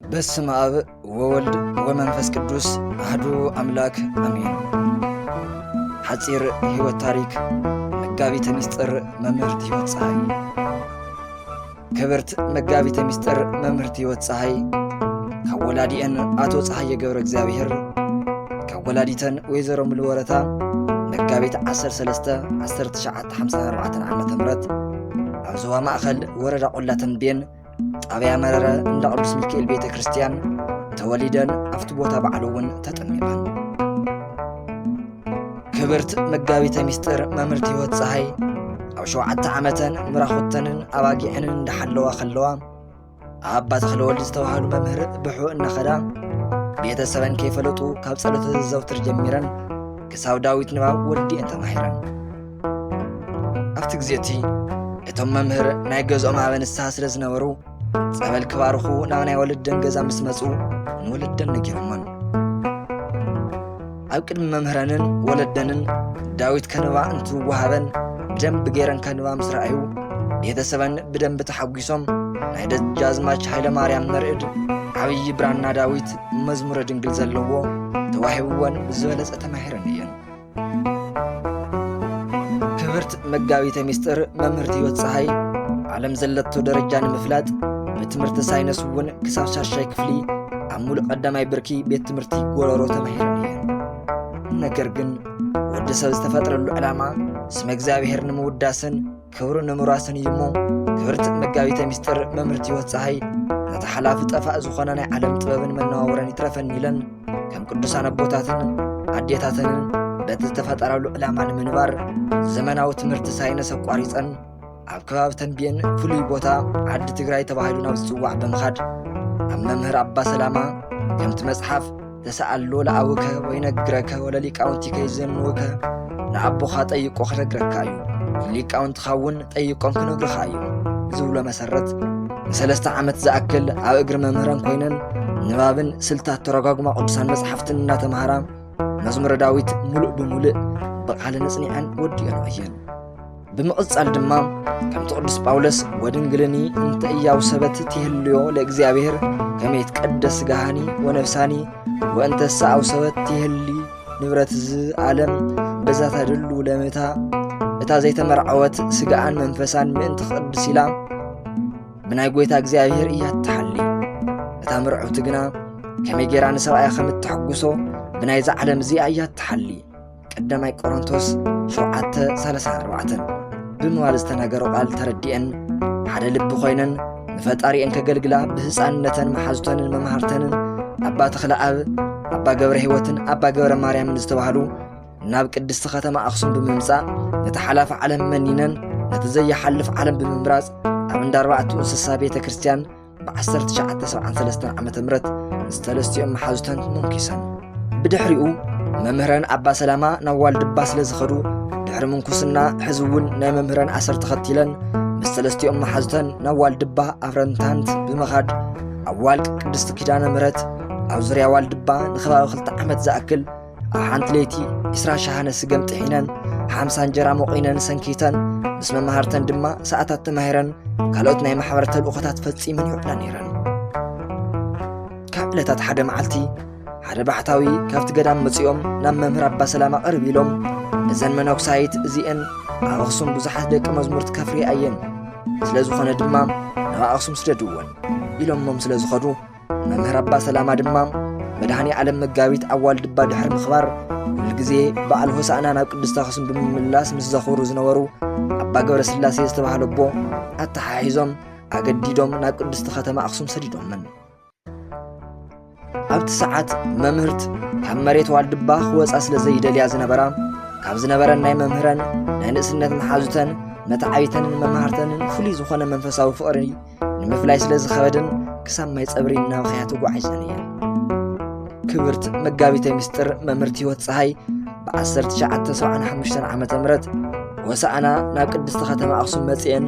በስመ ኣብ ወወልድ ወመንፈስ ቅዱስ ኣህዱ ኣምላክ ኣሜን። ሓጺር ህይወት ታሪክ መጋቢተ ሚስጥር መምህርት ህይወት ፀሐይ ክብርት መጋቢተ ሚስጥር መምህርት ህይወት ፀሐይ ካብ ወላዲኤን ኣቶ ፀሐየ ገብረ እግዚኣብሔር ካብ ወላዲተን ወይዘሮ ሙሉ ወረታ መጋቢት 13 1954 ዓ ም ኣብ ዞባ ማእኸል ወረዳ ቆላ ተንቤን ጣብያ መረረ እንዳ ቅዱስ ሚካኤል ቤተ ክርስቲያን ተወሊደን ኣብቲ ቦታ ባዕሉ እውን ተጠሚቐን ክብርት መጋቢተ ምስጢር መምህርቲ ህይወት ፀሃይ ኣብ ሸውዓተ ዓመተን ምራኹተንን ኣባጊዐንን እንዳሓለዋ ከለዋ ኣባ ተኽለወልድ ዝተባሃሉ መምህር ብሑ እናኸዳ ቤተሰበን ከይፈለጡ ካብ ጸሎተ ዘዘውትር ጀሚረን ክሳብ ዳዊት ንባብ ወዲኤን ተማሂረን ኣብቲ ግዜ እቲ እቶም መምህር ናይ ገዝኦም ኣበ ንስሓ ስለ ዝነበሩ ጸበል ክባርኹ ናብ ናይ ወለደን ገዛ ምስ መጹ ንወለደን ነጊሮሞን ኣብ ቅድሚ መምህረንን ወለደንን ዳዊት ከንባ እንትወሃበን ብደንቢ ገይረን ከንባ ምስ ረኣዩ ቤተሰበን ብደንቢ ተሓጒሶም ናይ ደጃዝማች ሃይለ ማርያም መርዕድ ዓብዪ ብራና ዳዊት መዝሙረ ድንግል ዘለዎ ተዋሂብወን ብዝበለጸ ተማሂረን እየን ክብርት መጋቢተ ሚስጥር መምህርት ህይወት ፀሃይ ዓለም ዘለቶ ደረጃ ንምፍላጥ ብትምህርቲ ሳይነስ እውን ክሳብ ሻሻይ ክፍሊ ኣብ ሙሉእ ቀዳማይ ብርኪ ቤት ትምህርቲ ጎረሮ ተማሂረን እየን ነገር ግን ወዲ ሰብ ዝተፈጥረሉ ዕላማ ስመ እግዚኣብሔር ንምውዳስን ክብሩ ንምውራስን እዩ እሞ ክብርቲ መጋቢተ ምስጢር መምህርቲ ህይወት ፀሃይ ነቲ ሓላፊ ጠፋእ ዝኾነ ናይ ዓለም ጥበብን መነዋወረን ይትረፈኒ ኢለን ከም ቅዱሳን ኣቦታትን ኣዴታተንን በቲ ዝተፈጠረሉ ዕላማ ንምንባር ዘመናዊ ትምህርቲ ሳይንስ ኣቋሪፀን ኣብ ከባቢ ተንቢየን ፍሉይ ቦታ ዓዲ ትግራይ ተባሂሉ ናብ ዝፅዋዕ ብምኻድ ኣብ መምህር ኣባ ሰላማ ከምቲ መፅሓፍ ተሰኣሎ ለኣውከ ወይ ነግረከ ወለ ሊቃውንቲከ ይዘንውከ ንኣቦኻ ጠይቆ ክነግረካ እዩ ሊቃውንትኻ እውን ጠይቆም ክነግርኻ እዩ ዝብሎ መሰረት ንሰለስተ ዓመት ዝኣክል ኣብ እግሪ መምህረን ኮይነን ንባብን ስልታት ተረጓጉማ ቅዱሳን መጽሓፍትን እናተምሃራ መዝሙረ ዳዊት ሙሉእ ብምሉእ ብቓልን እጽኒዐን ወዲኦን እየን ብምቕጻል ድማ ከምቲ ቅዱስ ጳውሎስ ወድንግልኒ እንተ እያው ሰበት ትህልዮ ለእግዚኣብሔር ከመ ይትቀደስ ስጋሃኒ ወነፍሳኒ ወእንተ ሰኣው ሰበት ትህሊ ንብረት እዚ ዓለም በዛ ተድሉ ለምታ እታ ዘይተመርዓወት ስጋኣን መንፈሳን ምእንቲ ክቕድስ ኢላ ብናይ ጐይታ እግዚኣብሔር እያ እትሓሊ እታ ምርዕውቲ ግና ከመይ ጌራ ንሰብኣያ ከም እተሕጉሶ ብናይዛ ዓለም እዚኣ እያ እትሓሊ ቀዳማይ ቆሮንቶስ ሸውዓተ ሰለሳን ኣርባዕተን ብምባል ዝተነገሮ ቃል ተረዲኤን ሓደ ልቢ ኮይነን ንፈጣሪኤን ከገልግላ ብህፃንነተን መሓዙተንን መምሃርተንን ኣባ ተኽለ ኣብ ኣባ ገብረ ህይወትን ኣባ ገብረ ማርያምን ዝተባህሉ ናብ ቅድስቲ ከተማ ኣኽሱም ብምምጻእ ነቲ ሓላፊ ዓለም መኒነን ነቲ ዘይሓልፍ ዓለም ብምምራጽ ኣብ እንዳ ኣርባዕቱ እንስሳ ቤተ ክርስቲያን ብ ዓሰርተ ትሽዓተ ሰብዓን ሰለስተን ዓመተ ምህረት ምስ ሰለስቲኦም መሓዙተን ሞንኪሰን። ብድሕሪኡ መምህረን ኣባ ሰላማ ናብ ዋልድባ ስለ ዝኸዱ ድሕሪ ምንኩስና ሕዚ እውን ናይ መምህረን ኣሰር ተኸቲለን ምስ ሰለስቲኦም መሓዙተን ናብ ዋልድባ ኣፍረንታንት ብምኻድ ኣብ ዋልቅ ቅድስቲ ኪዳነ ምህረት ኣብ ዙርያ ዋልድባ ንኸባቢ ክልተ ዓመት ዝኣክል ኣብ ሓንቲ ለይቲ ዕስራ ሸሓነ ስገም ጥሒነን ሓምሳ እንጀራ መቑነን ሰንኪተን ምስ መማህርተን ድማ ሰዓታት ተማሂረን ካልኦት ናይ ማሕበር ተልእኾታት ፈጺመን ይውዕላ ነይረን ካብ ዕለታት ሓደ መዓልቲ ሓደ ባሕታዊ ካብቲ ገዳም መጺኦም ናብ መምህር ኣባ ሰላማ ቅርብ ኢሎም እዘን መነኩሳይት እዚአን ኣብ ኣኽሱም ብዙሓት ደቂ መዝሙርት ከፍርያ እየን ስለ ዝኾነ ድማ ናብ ኣኽሱም ስደድወን ኢሎሞም ስለ ዝኸዱ መምህር ኣባ ሰላማ ድማ መድኃኔ ዓለም መጋቢት ኣብ ዋልድባ ድሕሪ ምኽባር ኩሉ ግዜ በዓል ሆሳእና ናብ ቅድስት ኣኽሱም ብምምላስ ምስ ዘኽብሩ ዝነበሩ ኣባ ገብረ ስላሴ ዝተባህለ ኣቦ ኣተሓሒዞም ኣገዲዶም ናብ ቅድስቲ ከተማ ኣኽሱም ሰዲዶምን ኣብቲ ሰዓት መምህርት ካብ መሬት ዋልድባ ክወፃ ስለ ዘይደልያ ዝነበራ ካብ ዝነበረን ናይ መምህረን ናይ ንእስነት መሓዙተን መታዓቢተንን መማህርተንን ፍሉይ ዝኾነ መንፈሳዊ ፍቕሪ ንምፍላይ ስለ ዝኸበደን ክሳብ ማይ ጸብሪ እናበኸያ ተጓዒዘን እየን ክብርት መጋቢተ ምስጢር መምህርቲ ህይወት ፀሃይ ብ1975 ዓ ም ወሳእና ናብ ቅድስቲ ከተማ ኣኽሱም መፅኤን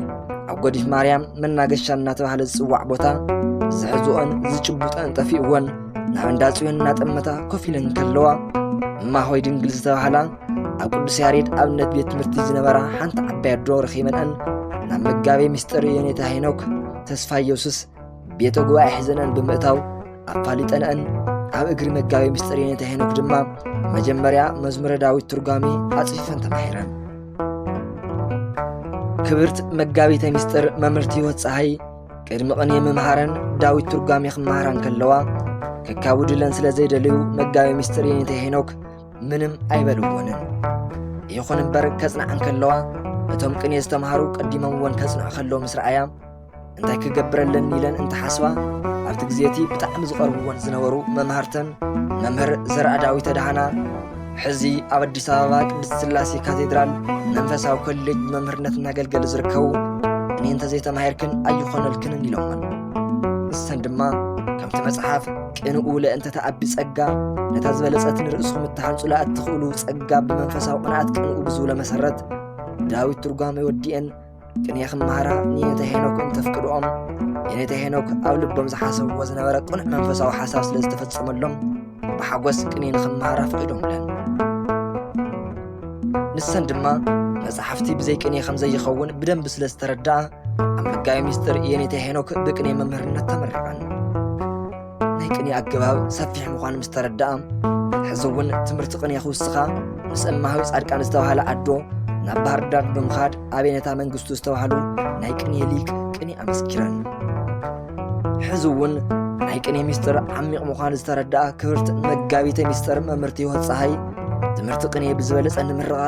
ኣብ ጎዲፍ ማርያም መናገሻ እናተባህለ ዝፅዋዕ ቦታ ዝሕዝኦን ዝጭቡጠን ጠፊእወን ናብ እንዳ ጽዮን እናጠመታ ኮፍ ኢለን ከለዋ እማሆይ ድንግል ዝተባህላ ኣብ ቅዱስ ያሬድ ኣብነት ቤት ትምህርቲ ዝነበራ ሓንቲ ዓባይ ኣዶ ረኺበንኣን ናብ መጋቤ ምስጢር የኔታ ሄኖክ ተስፋ ኢየሱስ ቤተ ጉባኤ ሒዘንኣን ብምእታው ኣፋሊጠንኣን ኣብ እግሪ መጋቤ ምስጢር የኔታ ሄኖክ ድማ መጀመርያ መዝሙረ ዳዊት ትርጓሜ ኣጽፊፈን ተማሂረን ክብርት መጋቢተ ምስጢር መምህርቲ ህይወት ፀሃይ ቅድሚ ቅኔ ምምሃረን ዳዊት ትርጓሜ ክመሃራን ከለዋ ከካውድለን ስለ ዘይደለዩ መጋቤ ምስጢር የኔታ ሄኖክ ምንም ኣይበልዎንን። ይኹን እምበር ከጽንዓ እንከለዋ ነቶም ቅኔ ዝተምሃሩ ቀዲሞምዎን ከጽንዑ ከለዉ ምስ ረኣያ እንታይ ክገብረለን ኢለን እንተሓስባ ኣብቲ ግዜ እቲ ብጣዕሚ ዝቐርብዎን ዝነበሩ መማህርተን መምህር ዘርኣዳዊ ተድሃና ሕዚ ኣብ ኣዲስ ኣበባ ቅድስት ስላሴ ካቴድራል መንፈሳዊ ኮሌጅ መምህርነት እናገልገሉ ዝርከቡ እኔ እንተዘይተማሂርክን ኣይኾነልክንን ኢሎመን ንሰን ድማ ከምቲ መጽሓፍ ቅንኡ ለእንተ ተኣቢ ጸጋ ነታ ዝበለጸት ንርእስኹም እትሃንጹላ እትኽእሉ ጸጋ ብመንፈሳዊ ቅንኣት ቅንኡ ብዝብሎ መሰረት ዳዊት ትርጓመ ወዲኤን ቅንየ ክመሃራ ንየተ ሄኖክ እንተፍቅድኦም የኔተ ሄኖክ ኣብ ልቦም ዝሓሰብዎ ዝነበረ ቅኑዕ መንፈሳዊ ሓሳብ ስለ ዝተፈጸመሎም ብሓጎስ ቅንየ ንኽመሃራ ፈቒዶምለን ንሰን ድማ መጽሓፍቲ ብዘይ ቅኔ ከም ዘይኸውን ብደንቢ ስለ ዝተረድኣ ኣብ መጋቢ ሚስጥር የኔታ ሄኖክ ብቅኔ መምህርነት ተመሪቐን። ናይ ቅኔ ኣገባብ ሰፊሕ ምዃኑ ምስ ተረድኣ ሕዚ እውን ትምህርቲ ቅኔ ክውስኻ ምስ እማሃዊ ጻድቃን ዝተባህለ ኣዶ ናብ ባህር ዳር ብምኻድ ኣብ የኔታ መንግስቱ ዝተባህሉ ናይ ቅኔ ሊቅ ቅኔ ኣመስኪረን። ሕዚ እውን ናይ ቅኔ ሚስጥር ዓሚቕ ምዃን ዝተረድኣ ክብርት መጋቢተ ሚስጥር መምህርቲ ህይወት ፀሃይ ትምህርቲ ቅኔ ብዝበለፀ ንምርቓ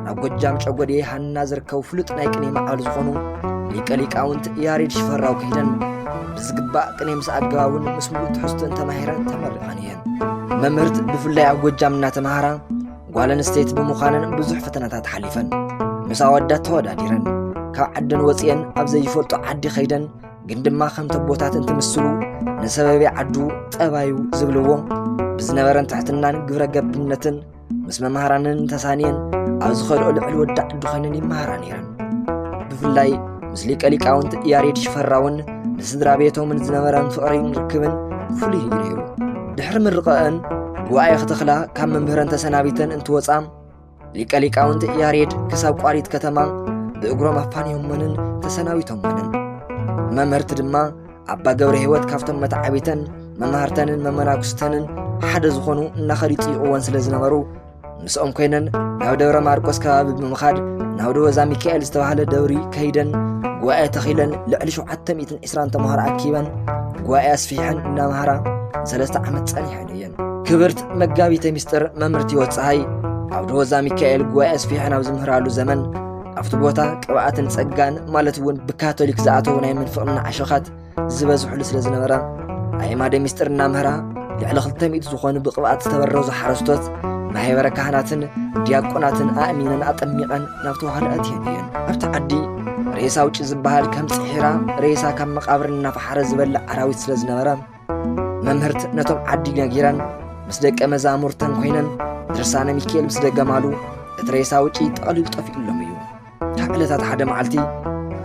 ናብ ጎጃም ጨጎዴ ሃና ዝርከቡ ፍሉጥ ናይ ቅኔ መዓሉ ዝኾኑ ሊቀ ሊቃውንት ያሬድ ሽፈራው ከይደን ብዝግባእ ቅኔ ምስ ኣገባቡን ምስ ሙሉእ ትሕዝቱን ተማሂረን ተመሪቐን እየን መምህርት ብፍላይ ኣብ ጎጃም እናተምሃራ ጓል ኣንስተይቲ ብምዃነን ብዙሕ ፈተናታት ሓሊፈን ምስ ኣወዳት ተወዳዲረን ካብ ዓደን ወፂአን ኣብ ዘይፈልጦ ዓዲ ከይደን ግን ድማ ከምቲ ኣቦታት እንትምስሉ ንሰበቤ ዓዱ ጠባዩ ዝብልዎ ብዝነበረን ትሕትናን ግብረ ገብነትን ምስ መምሃራንን ተሳንየን ኣብ ዝኸድኦ ልዕሊ ወዲ ዓዱ ኮይነን ይመሃራ ነይረን ብፍላይ ምስ ሊቀ ሊቃውንት ያሬድ ሽፈራውን ንስድራ ቤቶምን ዝነበረን ፍቕሪን ርክብን ፍሉይ እዩ ነይሩ ድሕሪ ምርቐአን ጉባኤ ክተኽላ ካብ መምህረን ተሰናቢተን እንትወፃ ሊቀ ሊቃውንት ያሬድ ክሳብ ቋሪት ከተማ ብእግሮም ኣፋንዮሞንን ተሰናቢቶሞንን መምህርቲ ድማ ኣባ ገብረ ህይወት ካብቶም መተዓቢተን መማህርተንን መመናኩስተንን ሓደ ዝኾኑ እናኸዱ ይጥይቕዎን ስለ ዝነበሩ ምስኦም ኮይነን ናብ ደብረ ማርቆስ ከባቢ ብምኻድ ናብ ደወዛ ሚካኤል ዝተባህለ ደብሪ ከይደን ጉባኤ ተኺለን ልዕሊ 720 ተምሃሮ ኣኪበን ጉባኤ ኣስፊሐን እናምሃራ ንሰለስተ ዓመት ጸኒሐን እየን ክብርት መጋቢተ ሚስጥር መምህርት ህይወት ፀሃይ ኣብ ደወዛ ሚካኤል ጉባኤ ኣስፊሐን ኣብ ዝምህራሉ ዘመን ኣብቲ ቦታ ቅብኣትን ጸጋን ማለት እውን ብካቶሊክ ዝኣተዉ ናይ ምንፍቕና ዓሸኻት ዝበዝሕሉ ስለ ዝነበረ ኣየማደ ሚስጥር እናምህራ ልዕሊ 200 ዝኾኑ ብቕብኣት ዝተበረዙ ሓረስቶት ማሕበረ ካህናትን ዲያቆናትን ኣእሚነን ኣጠሚቐን ናብ ተዋህዶ ኣትየን እየን ኣብቲ ዓዲ ሬሳ ውጪ ዝበሃል ከም ፅሒራ ሬሳ ካብ መቃብር እናፈሓረ ዝበልዕ ኣራዊት ስለ ዝነበረ መምህርት ነቶም ዓዲ ነጊረን ምስ ደቀ መዛሙርተን ኮይነን ድርሳነ ሚካኤል ምስ ደገማሉ እቲ ሬሳ ውጪ ጠቕሊሉ ጠፊኡሎም እዩ ካብ ዕለታት ሓደ መዓልቲ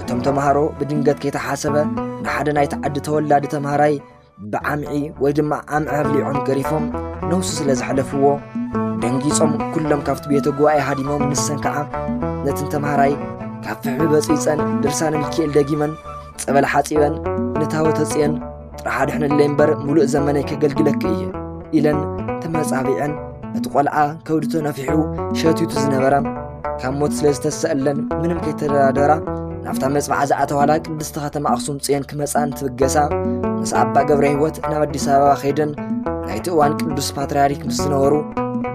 እቶም ተምሃሮ ብድንገት ከይተሓሰበ ንሓደ ናይቲ ዓዲ ተወላዲ ተምሃራይ ብዓምዒ ወይ ድማ ዓምዒ ኣብሊዖም ገሪፎም ነውሱ ስለ ዝሓለፍዎ ደንጊጾም ኩሎም ካብቲ ቤተ ጉባኤ ሃዲሞም ንሰን ከዓ ነትን ተምሃራይ ካብ ፍሕሚ በፂፀን ድርሳነ ሚካኤል ደጊመን ጸበል ሓጺበን ንታወተ ጽዮን ጥራሕ ኣድሕንለይ እምበር ሙሉእ ዘመነይ ከገልግለኪ እየ ኢለን ተመጻቢዐን እቲ ቆልዓ ከብዱ ተነፊሑ ሸትቱ ዝነበረ ካብ ሞት ስለ ዝተሰእለን ምንም ከይተደራደራ ናብታ መጽባዓ ዝኣተዋላ ቅድስቲ ከተማ ኣኽሱም ጽዮን ክመጽኣን ትብገሳ ምስ ኣባ ገብረ ህይወት ናብ ኣዲስ ኣበባ ከይደን ናይቲ እዋን ቅዱስ ፓትርያርክ ምስ ዝነበሩ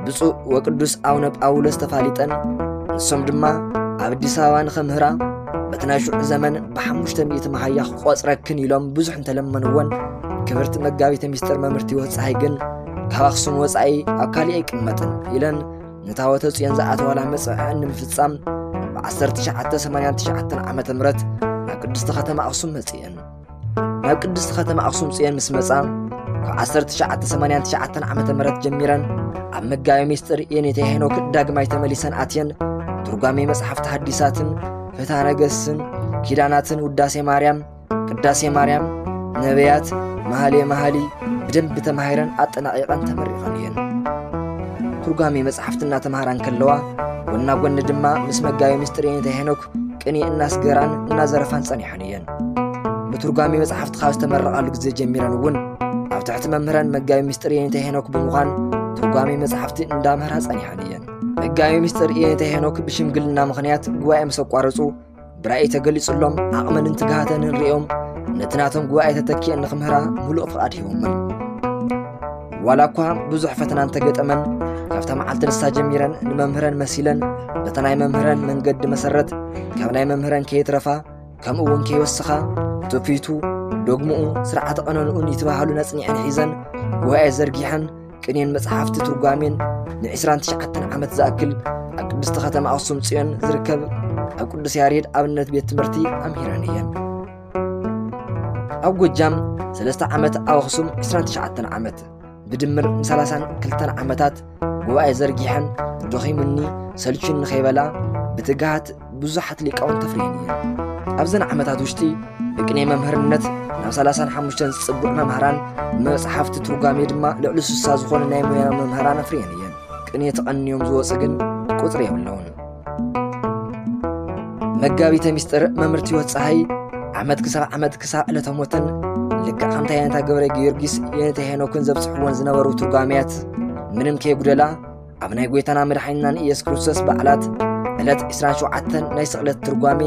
ብፁዕ ወቅዱስ ኣቡነ ጳውሎስ ተፋሊጠን ንሶም ድማ ኣብ ኣዲስ ኣበባ ንኸምህራ በቲ ናይ ሽዑ ዘመን ብሓሙሽተ ሚእቲ መሃያ ክቆፅረክን ኢሎም ብዙሕ እንተለመንዎን ክብርቲ መጋቢተ ሚስጥር መምህርቲ ህይወት ፀሓይ ግን ካብ ኣኽሱም ወፃኢ ኣብ ካሊእ ኣይቅመጥን ኢለን ንታወተ ፅዮን ዝኣተዋላ መፅዕዐን ንምፍፃም ብ1989 ዓ ም ናብ ቅድስቲ ከተማ ኣኽሱም መፅእን ናብ ቅድስቲ ኸተማ ኣኽሱም ፅዮን ምስ መፃ ካብ 1989 ዓ ም ጀሚረን ኣብ መጋቢ ምስጢር የኔታ ሄኖክ ዳግማይ ተመሊሰን ኣትየን ትርጓሜ መጽሓፍቲ ሐዲሳትን ፍትሐ ነገሥትን ኪዳናትን ውዳሴ ማርያም ቅዳሴ ማርያም ነቢያት መሃሌ መሃሊ ብደንቢ ተማሂረን ኣጠናቂቐን ተመሪቐን እየን ትርጓሜ መጽሓፍቲ እናተምሃራ እንከለዋ ጎና ጎኒ ድማ ምስ መጋቢ ምስጢር የኔታ ሄኖክ ቅኔ እናስገራን እናዘረፋን ጸኒሐን እየን ብትርጓሜ መጽሓፍቲ ካብ ዝተመረቓሉ ግዜ ጀሚረን እውን ኣብ ትሕቲ መምህረን መጋቢ ምስጢር የኔታ ሄኖክ ብምዃን ትርጓሜ መጽሓፍቲ እንዳምህራ ጸኒሐን እየን መጋቢ ምስጢር የኔታ ሄኖክ ብሽምግልና ምኽንያት ጉባኤ ምስ ኣቋረጹ ብራእይ ተገሊጹሎም ዓቕመንን ትግሃተንን ርእዮም ነቲ ናቶም ጉባኤ ተተኪኤን ንኽምህራ ምሉእ ፍቓድ ሂቦመን ዋላ እኳ ብዙሕ ፈተና እንተገጠመን ካብታ መዓልቲ ንሳ ጀሚረን ንመምህረን መሲለን በቲ ናይ መምህረን መንገዲ መሰረት ካብ ናይ መምህረን ከየትረፋ ከምኡ እውን ከይወስኻ ትውፊቱ ዶግምኡ ስርዓተ ቐነንኡን ይትበሃሉ ነጽኒዐን ሒዘን ጉባኤ ዘርጊሐን ቅኔን መጽሓፍቲ ትርጓሜን ን29 ዓመት ዝኣክል ኣብ ቅድስቲ ኸተማ ኣኽሱም ጽዮን ዝርከብ ኣብ ቅዱስ ያሬድ ኣብነት ቤት ትምህርቲ ኣምሂረን እየን ኣብ ጎጃም ሰለስተ ዓመት ኣብ ኣኽሱም 29 ዓመት ብድምር ም 32 ዓመታት ጉባኤ ዘርጊሐን ደኺሙኒ ሰልቹን ንኸይበላ ብትግሃት ብዙሓት ሊቃውን ተፍርየን እየን ኣብዘን ዓመታት ውሽጢ ብቅኔ መምህርነት ናብ 35 ዝፅቡዕ መምህራን መፅሓፍቲ ትርጓሜ ድማ ልዕሊ ስሳ ዝኾኑ ናይ ሙያ መምህራን ኣፍርየን እየን ቅኔ ተቐንዮም ዝወፁ ግን ቁፅሪ የብለውን መጋቢተ ሚስጥር መምህርቲ ህይወት ፀሓይ ዓመት ክሳብ ዓመት ክሳብ ዕለተ ሞተን ልክዕ ከምታ የነታ ገብረ ጊዮርጊስ የነታ ሄኖክን ዘብፅሕዎን ዝነበሩ ትርጓሜያት ምንም ከይጉደላ ኣብ ናይ ጐይታና መድሓኒናን ኢየሱስ ክርስቶስ በዓላት ዕለት 27 ናይ ስቕለት ትርጓሜ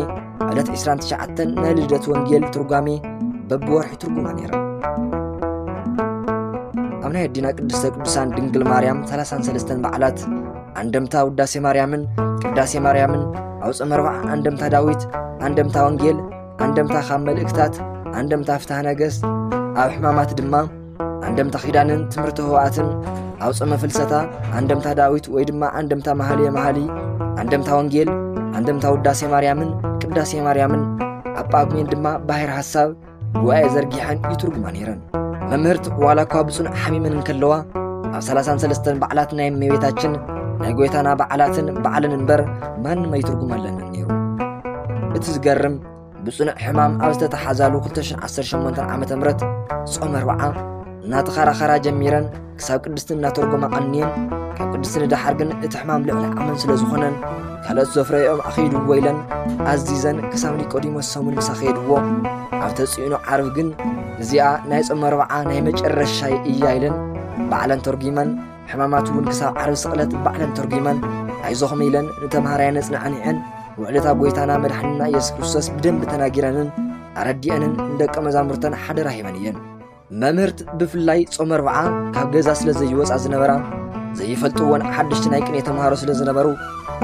ዕለት 29 ናይ ልደት ወንጌል ትርጓሜ በብወርሒ ትርጉማ ነይራ ኣብ ናይ ኣዲና ቅድስተ ቅዱሳን ድንግል ማርያም 33 በዓላት ኣንደምታ ውዳሴ ማርያምን ቅዳሴ ማርያምን ኣውፅ መርባዕ ኣንደምታ ዳዊት ኣንደምታ ወንጌል ኣንደምታ ካብ መልእክታት ኣንደምታ ፍትሐ ነገሥት ኣብ ሕማማት ድማ ኣንደምታ ኪዳንን ትምህርቲ ህዋኣትን ኣውፅ መፍልሰታ ኣንደምታ ዳዊት ወይ ድማ ኣንደምታ መሃልየ መሃሊ ኣንደምታ ወንጌል ኣንደምታ ውዳሴ ማርያምን ቅዳሴ ማርያምን ኣብ ጳጉሜን ድማ ባሕር ሓሳብ ጉባኤ ዘርጊሐን ይትርጉማ ነይረን መምህርት ዋላ እኳ ብፁን ሓሚመን እንከለዋ ኣብ ሰላሳን ሰለስተን በዓላት ናይ እመቤታችን ናይ ጎይታና በዓላትን በዓልን እምበር ማንም ኣይትርጉም ኣለንን ነይሩ እቲ ዝገርም ብፅኑዕ ሕማም ኣብ ዝተተሓዛሉ 218 ዓ ም ጾም ኣርብዓ እናተኸራኸራ ጀሚረን ክሳብ ቅድስቲ እናተርጎማ ቀንየን ካብ ቅድስቲ ንደሓር ግን እቲ ሕማም ልዕሊ ዓመን ስለ ዝኾነን ካልኦት ዘፍረየኦም ኣኸይድዎ ኢለን ኣዚዘን ክሳብ ኒቆዲሞስ ሰሙን ምሳ ኸየድዎ ኣብ ተፅዕኖ ዓርብ ግን እዚኣ ናይ ጾመ ኣርብዓ ናይ መጨረሻይ እያ ኢለን ባዕለን ተርጒመን ሕማማት እውን ክሳብ ዓርብ ስቕለት ባዕለን ተርጒመን ኣይዞኹም ኢለን ንተምሃራያን ነጽናዕኒዐን ውዕለታ ጎይታና መድሓንና ኢየሱስ ክርስቶስ ብደንብ ተናጊረንን ኣረዲአንን ንደቀ መዛሙርተን ሓደራ ሂበን እየን መምህርት ብፍላይ ጾመ ኣርብዓ ካብ ገዛ ስለ ዘይወፃ ዝነበራ ዘይፈልጥዎን ሓደሽቲ ናይ ቅኔ ተምሃሮ ስለ ዝነበሩ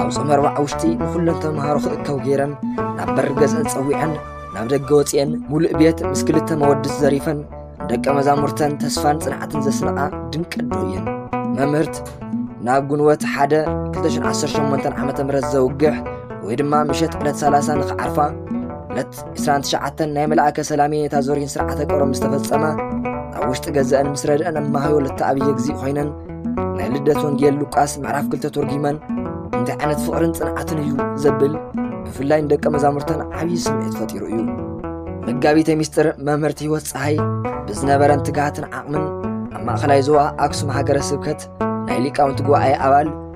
ኣብ ጾመ ኣርብዓ ውሽጢ ንኹለን ተምሃሮ ክእከው ገይረን ናብ በሪ ገዝአን ጸዊዐን ናብ ደገ ወፂአን ሙሉእ ቤት ምስ ክልተ መወድስ ዘሪፈን ደቀ መዛሙርተን ተስፋን ጽንዓትን ዘስንቓ ድንቂ ኣዶ እየን መምህርት ናብ ግንወት ሓደ 218 ዓ ም ዘውግሕ ወይ ድማ ምሸት ዕለት 30 ንኽዓርፋ ዕለት ዕስራን ትሽዓተን ናይ መልኣከ ሰላም የኔታ ዞሪን ስርዓተ ቀብሮም ምስ ተፈጸመ ኣብ ውሽጢ ገዘአን ምስ ረድአን እማሃይ ወለተ ኣብየ እግዚእ ኮይነን ናይ ልደት ወንጌል ሉቃስ ምዕራፍ ክልተ ተርጒመን እንታይ ዓይነት ፍቕርን ጽንዓትን እዩ ዘብል ብፍላይ ንደቀ መዛሙርተን ዓብዪ ስምዒት ፈጢሩ እዩ መጋቢተ ሚስጥር መምህርቲ ህይወት ፀሓይ ብዝነበረን ትግሃትን ዓቕምን ኣብ ማእኸላይ ዞባ ኣክሱም ሃገረ ስብከት ናይ ሊቃውንቲ ጉባኤ ኣባል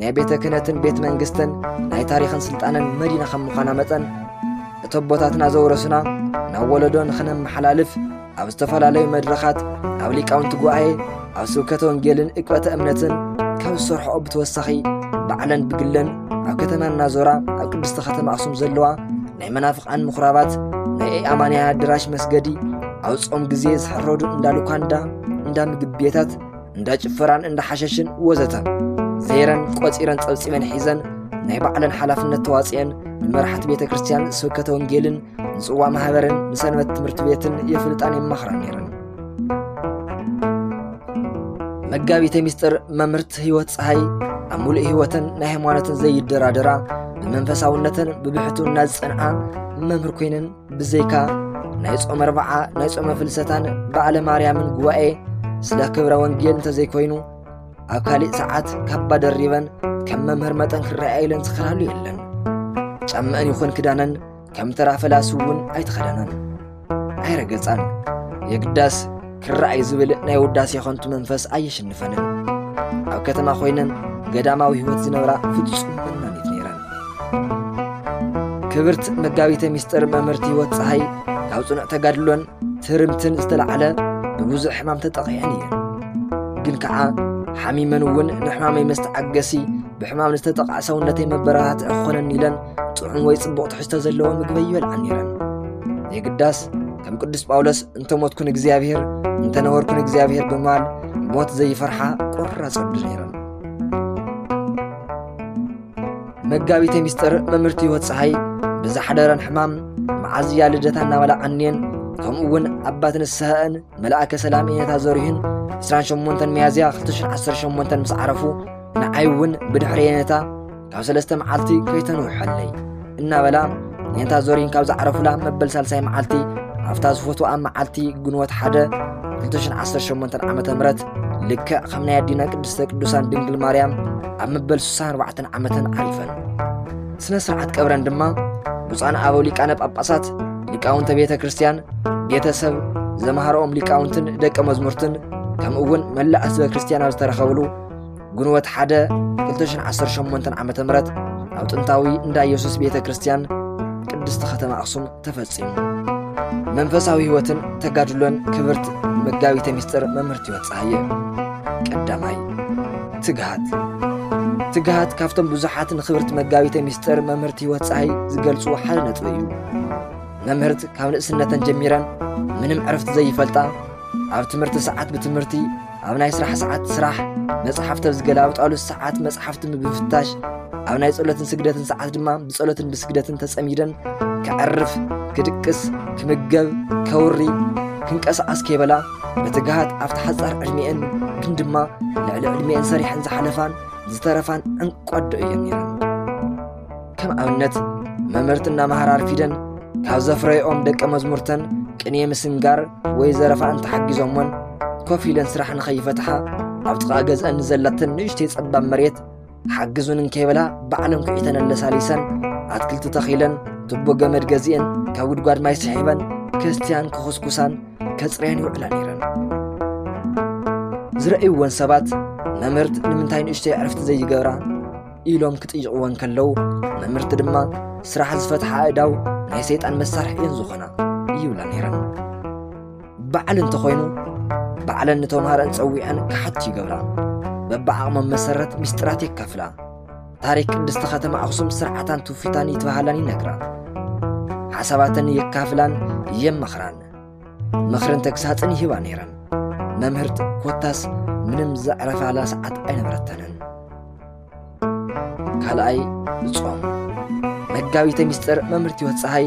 ናይ ቤተ ክህነትን ቤት መንግስትን ናይ ታሪኽን ስልጣንን መዲና ከም ምዃና መጠን እቲ ኣቦታትና ዘውረሱና ናብ ወለዶ ንኽነመሓላልፍ ኣብ ዝተፈላለዩ መድረኻት ኣብ ሊቃውንቲ ጉባኤ ኣብ ስብከተ ወንጌልን እቅበተ እምነትን ካብ ዝሰርሖኦ ብተወሳኺ ባዕለን ብግለን ኣብ ከተማ እናዞራ ኣብ ቅድስቲ ከተማ ኣኽሱም ዘለዋ ናይ መናፍቓን ምኹራባት ናይ ኣማንያ ኣደራሽ መስገዲ ኣብ ጾም ግዜ ዝሕረዱ እንዳ ሉካንዳ እንዳ ምግብ ቤታት እንዳ ጭፈራን እንዳ ሓሸሽን ወዘተ ዘይረን ቆፂረን ጸብጺበን ሒዘን ናይ ባዕለን ሓላፍነት ተዋፅየን ንመራሕቲ ቤተ ክርስቲያን ስብከተ ወንጌልን ንጽዋ ማህበርን ንሰንበት ትምህርቲ ቤትን የፍልጣን የማኽራን ነይረን መጋቢተ ሚስጥር መምህርት ህይወት ፀሃይ ኣብ ሙሉእ ህይወትን ናይ ሃይማኖትን ዘይደራደራ ብመንፈሳውነትን ብብሕትውና ዝጸንዓ መምህር ኮይነን ብዘይካ ናይ ጾመ ኣርብዓ ናይ ጾመ ፍልሰታን በዓለ ማርያምን ጉባኤ ስለ ክብረ ወንጌል እንተዘይኮይኑ ኣብ ካሊእ ሰዓት ካባ ደሪበን ከም መምህር መጠን ክረኣያ ኢለን ዝኸዳሉ የለን ጫምአን ይኹን ክዳነን ከም ተራ ፈላሲ እውን ኣይተኸደናን ኣይረገጻን የግዳስ ክረኣይ ዝብል ናይ ውዳሴ ኸንቱ መንፈስ ኣየሽንፈንን ኣብ ከተማ ኮይነን ገዳማዊ ህይወት ዝነብራ ፍጹም መናኒት ነይረን ክብርት መጋቢተ ምስጢር መምህርቲ ህይወት ፀሃይ ካብ ፅኑዕ ተጋድሎን ትርምትን ዝተላዕለ ብብዙሕ ሕማም ተጠቒዐን እየን ግን ከዓ ሓሚመን እውን ንሕማመይ መስተዓገሲ ብሕማም ንዝተጠቕዐ ሰውነተይ መበረታትዒ ክኾነኒ ኢለን ጥዑም ወይ ጽቡቕ ትሕዝቶ ዘለዎ ምግቢ ይበልዓ ነይረን የግዳስ ከም ቅዱስ ጳውሎስ እንተሞትኩ ንእግዚኣብሔር እንተነበርኩ ንእግዚኣብሔር ብምባል ሞት ዘይፈርሓ ቆራጽ ወዲ ነይረን መጋቢተ ሚስጥር መምህርቲ ህይወት ፀሓይ ብዝሓደረን ሕማም መዓዝ እያ ልደታ እናበላዓኒየን ከምኡ እውን ኣባት ንስሐአን መልኣከ ሰላም ኢነታ ዘሪሁን 28 ሚያዝያ 2018 ምስ ዓረፉ ንዓይ እውን ብድሕሪ የነታ ካብ ሰለስተ መዓልቲ ከይተንውሐለይ እናበላ ኔንታ ዞሪን ካብ ዝዓረፉላ መበል ሳልሳይ መዓልቲ ኣብታ ዝፈትዋ መዓልቲ ግንቦት ሓደ 2018 ዓ ም ልክዕ ከም ናይ ኣዲና ቅድስተ ቅዱሳን ድንግል ማርያም ኣብ መበል 64 ዓመተን ዓሪፈን ስነ ስርዓት ቀብረን ድማ ብፁዓን ኣበው ሊቃነ ጳጳሳት ሊቃውንተ ቤተ ክርስቲያን ቤተሰብ ዘምሃሮኦም ሊቃውንትን ደቀ መዝሙርትን ከምኡ እውን መላእ ህዝበ ክርስቲያን ኣብ ዝተረኸብሉ ግንቦት ሓደ 2018 ዓ ም ኣብ ጥንታዊ እንዳ ኢየሱስ ቤተ ክርስቲያን ቅድስቲ ኸተማ ኣኽሱም ተፈጺሙ መንፈሳዊ ሕይወትን ተጋድሎን ክብርት መጋቢተ ምስጢር መምህርቲ ሕይወት ፀሃየ ቀዳማይ ትግሃት ትግሃት ካብቶም ብዙሓት ንክብርት መጋቢተ ምስጢር መምህርቲ ሕይወት ፀሃይ ዝገልጹ ሓደ ነጥቢ እዩ መምህርት ካብ ንእስነተን ጀሚረን ምንም ዕርፍቲ ዘይፈልጣ ኣብ ትምህርቲ ሰዓት ብትምህርቲ ኣብ ናይ ስራሕ ሰዓት ስራሕ፣ መጽሓፍቲ ኣብ ዝገላብጣሉ ሰዓት መጽሓፍቲ ብምፍታሽ፣ ኣብ ናይ ጸሎትን ስግደትን ሰዓት ድማ ብጸሎትን ብስግደትን ተጸሚደን ከዕርፍ፣ ክድቅስ፣ ክምገብ፣ ከውሪ፣ ክንቀሳቐስ ከይበላ በትግሃት ኣብቲ ሓጻር ዕድሜአን ግን ድማ ልዕሊ ዕድሜአን ሰሪሐን ዝሓለፋን ዝተረፋን ዕንቋዶ እየን ነይረን። ከም ኣብነት መምህርቲ እናመሃራ ኣርፊደን ካብ ዘፍረይኦም ደቀ መዝሙርተን ቅኔ ምስንጋር ወይ ዘረፋ እንተሓጊዞሞን ኮፍ ኢለን ስራሕ ንኸይፈትሓ ኣብ ጥቓ ገዝአን ንዘላተን ንእሽተይ ጸባብ መሬት ሓግዙን እንከይበላ ባዕለን ኩዒተን ኣለሳሊሰን ኣትክልቲ ተኺለን ቱቦ ገመድ ገዚኤን ካብ ጉድጓድ ማይ ስሒበን ከስትያን ክኹስኩሳን ከጽርያን ይውዕላ ነይረን ዝረእይወን ሰባት መምህርት ንምንታይ ንእሽተይ ዕርፍቲ ዘይገብራ ኢሎም ክጥይቕዎ እንከለዉ መምህርቲ ድማ ስራሕ ዝፈትሓ ኣእዳው ናይ ሰይጣን መሳርሒ እየን ዝኾና ይብላ ነይረን በዓል እንተኾይኑ ባዕለን ንተምሃረን ጸዊዐን ክሓቱ ይገብራ በብዓቕሞም መሰረት ምስጢራት የካፍላ ታሪክ ቅድስቲ ከተማ ኣኽሱም ስርዓታን ትውፊታን ይትበሃላን ይነግራ ሓሳባተን የካፍላን የመኽራን ምኽርን ተግሳጽን ይህባ ነይረን መምህርት ኮታስ ምንም ዘዕረፋላ ሰዓት ኣይነበረተንን ካልኣይ ብጾም መጋቢተ ሚስጥር መምህርት ህይወት ፀሓይ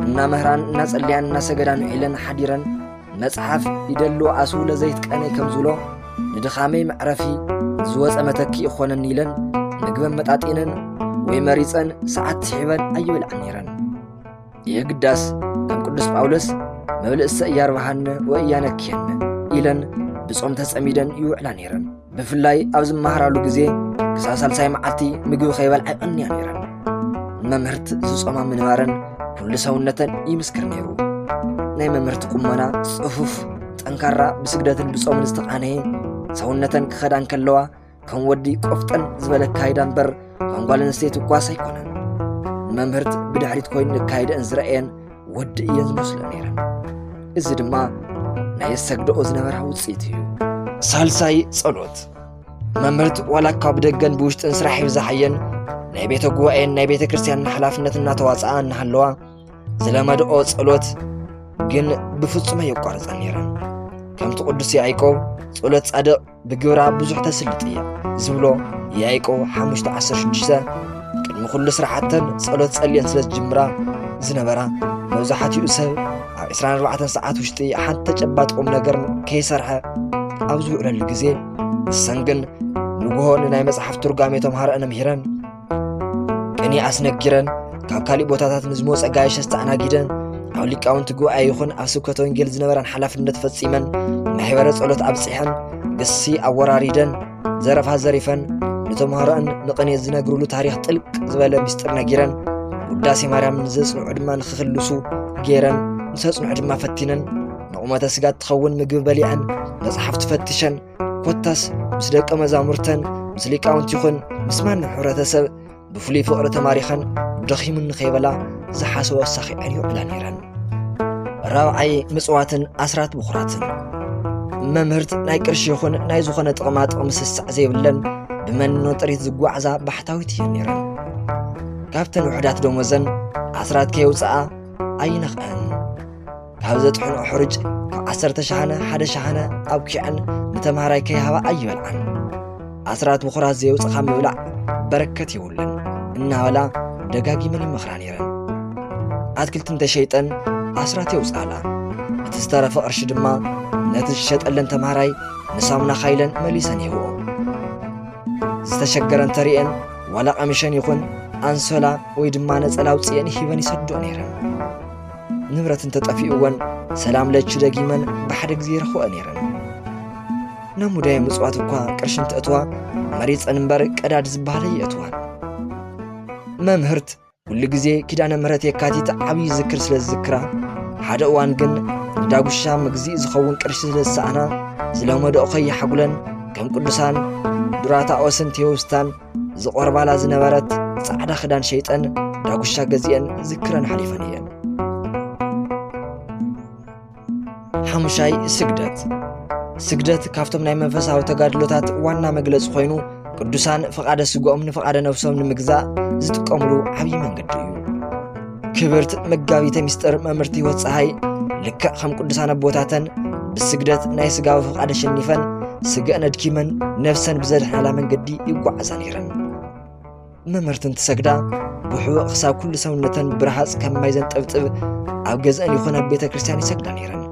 እናመህራን እናጸልያን እናሰገዳን ውዒለን ሓዲረን መጽሓፍ ይደሉ ኣስው ለዘይትቀነይ ከም ዝብሎ ንድኻመይ መዕረፊ ዝወፀ መተኪ ይኾነኒ ኢለን ምግበን መጣጢነን ወይ መሪፀን ሰዓት ስሒበን ኣይበልዓን ነይረን የግዳስ ከም ቅዱስ ጳውሎስ መብልእሰ እያርባሃነ ወእያነክየነ ኢለን ብጾም ተጸሚደን ይውዕላ ነይረን ብፍላይ ኣብ ዝመሃራሉ ግዜ ክሳብ ሳልሳይ መዓልቲ ምግቢ ከይበልዓ ይቐንያ ነይረን ንመምህርት ዝጾማ ምንባረን ኩሉ ሰውነተን ይምስክር ነይሩ ናይ መምህርቲ ቁመና ጽፉፍ ጠንካራ ብስግደትን ብጾምን ዝተቓነየ ሰውነተን ክኸዳ እንከለዋ ከም ወዲ ቆፍጠን ዝበለ ኣካይዳ እምበር ከም ጓል ኣንስተይቲ እኳስ ኣይኮነን ንመምህርት ብድሕሪት ኮይኑ ንካይደአን ዝረአየን ወዲ እየን ዝመስሎ ነይረን እዚ ድማ ናይ የሰግደኦ ዝነበራ ውፅኢት እዩ ሳልሳይ ጸሎት መምህርት ዋላ እኳ ብደገን ብውሽጥን ስራሕ ይብዛሓየን ናይ ቤተ ጉባኤን ናይ ቤተ ክርስቲያንን ሓላፍነት እናተዋፅኣ እናሃለዋ ዝለመድኦ ጸሎት ግን ብፍጹም ኣየቋርፀን ነይረን ከምቲ ቅዱስ ያዕቆብ ጸሎት ጻድቕ ብግብራ ብዙሕ ተስልጥ እየ ዝብሎ ያይቆ 516 ቅድሚ ኩሉ ስራሕተን ጸሎት ጸልየን ስለ ዝጅምራ ዝነበራ መብዛሕትኡ ሰብ ኣብ 24 ሰዓት ውሽጢ ሓንቲ ተጨባጥ ቁም ነገር ከይሰርሐ ኣብ ዝውዕለሉ ግዜ ንሰን ግን ንግሆ ንናይ መጽሓፍ ትርጓሜ ተምሃረአን ምሂረን ቅኔ ኣስነጊረን ካብ ካሊእ ቦታታት ንዝመፀ ጋይሽ ኣስተኣናጊደን ኣብ ሊቃውንቲ ጉባኤ ይኹን ኣብ ስብከተ ወንጌል ዝነበረን ሓላፍነት ፈፂመን ማሕበረ ጸሎት ኣብፂሐን ግሲ ኣወራሪደን ዘረፋ ዘሪፈን ንተምሃሮአን ንቕኔ ዝነግርሉ ታሪኽ ጥልቅ ዝበለ ምስጢር ነጊረን ውዳሴ ማርያም ንዘጽንዑ ድማ ንክክልሱ ገይረን ንተጽንዑ ድማ ፈቲነን ንቑመተ ስጋ እትኸውን ምግቢ በሊዐን መጽሓፍቲ ፈትሸን ኮታስ ምስ ደቀ መዛሙርተን ምስ ሊቃውንቲ ይኹን ምስ ማንም ሕብረተሰብ ብፍሉይ ፍቕሪ ተማሪኸን ደኺሙኒ ከይበላ ዝሓሰቦ ኣሳኺዐን ይውዕላ ነይረን ራብዓይ ምፅዋትን ኣስራት ብኹራትን መምህርት ናይ ቅርሺ ይኹን ናይ ዝኾነ ጥቕማ ጥቕሚ ስሳዕ ዘይብለን ብመንኖ ጥሪት ዝጓዓዛ ባሕታዊት እየን ነይረን ካብተን ውሕዳት ደሞዘን ኣስራት ከየውፅኣ ኣይነኽዐን ካብ ዘጥሕንኦ ሕሩጭ ካብ ዓሰርተ ሸሓነ ሓደ ሸሓነ ኣብኪዐን ንተምሃራይ ከይሃባ ኣይበልዓን ኣስራት ምኹራት ዘየውፅኻ ምብላዕ በረከት የብሉን እናበላ ደጋጊመን ይመኽራ ነይረን ኣትክልቲ እንተሸይጠን ኣስራት የውፅኣላ እቲ ዝተረፈ ቅርሺ ድማ ነቲ ዝሸጠለን ተምሃራይ ንሳሙና ካይለን መሊሰን ይህብኦ ዝተሸገረ እንተርእየን ዋላ ቀሚሸን ይኹን ኣንሶላ ወይ ድማ ነፀላ ውፅኤን ሂበን ይሰድኦ ነይረን ንብረት እንተጠፊኡወን ሰላም ለች ደጊመን ብሓደ ግዜ ይረኽበኦ ነይረን ናብ ሙዳየ ምፅዋት እኳ ቅርሺ እንትእትዋ መሪፀን እምበር ቀዳድ ዝበሃለ ይእትዋን መምህርት ኩሉ ግዜ ኪዳነ ምሕረት የካቲት ዓብዪ ዝክር ስለ ዝዝክራ ሓደ እዋን ግን ንዳጉሻ መግዚእ ዝኸውን ቅርሺ ስለ ዝሰኣና ስለ መደኦ ከይሓጉለን ከም ቅዱሳን ዱራታኦስን ቴዎስታን ዝቖርባላ ዝነበረት ጻዕዳ ክዳን ሸይጠን ዳጉሻ ገዚአን ዝክረን ሓሊፈን እየን ሓሙሻይ ስግደት ስግደት ካብቶም ናይ መንፈሳዊ ተጋድሎታት ዋና መግለፂ ኮይኑ ቅዱሳን ፍቓደ ስግኦም ንፍቓደ ነብሶም ንምግዛእ ዝጥቀምሉ ዓብዪ መንገዲ እዩ ክብርት መጋቢተ ምስጢር መምህርቲ ሕይወት ፀሓይ ልክዕ ከም ቅዱሳን ኣቦታተን ብስግደት ናይ ስጋዊ ፍቓድ ኣሸኒፈን ስግአን ኣድኪመን ነፍሰን ብዘድሕናላ መንገዲ ይጓዓዛ ነይረን መምህርትን ትሰግዳ ብሕቡእ ክሳብ ኩሉ ሰውነተን ብረሃፅ ከም ማይ ዘንጠብጥብ ኣብ ገዝአን ይኹን ኣብ ቤተ ክርስቲያን ይሰግዳ ነይረን